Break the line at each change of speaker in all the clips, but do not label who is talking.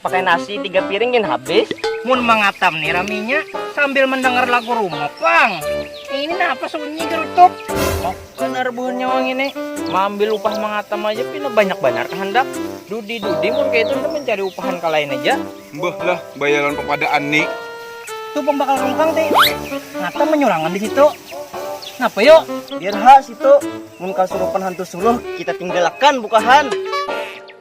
pakai nasi tiga piring gin habis mun mangatam nih raminya sambil mendengar lagu rumah pang ini apa sunyi gerutuk oh bener buhan nyawang ini mambil upah mangatam aja pina banyak banyak kehendak dudi dudi mun kayak itu mencari upahan ke lain aja mbah lah bayaran pepadaan nih tuh pembakal rungkang teh ngatam menyurangan di situ napa yuk biar hak situ mun kasurupan hantu suluh kita tinggalakan bukahan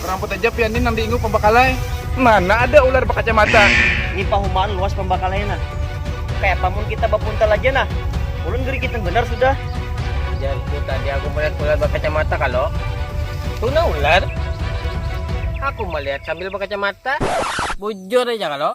Ramput aja pian ni nang diingu pambakalai. Mana ada ular bakacamata. Ni pahumaan luas pambakalai nah. Kayapa mun kita bapuntal aja nah. Ulun gerigitan banar sudah. Ujarku tadi aku melihat ular bakacamata kalo. Tu nah ular. Aku melihat sambil bakacamata. Bujur aja kalo.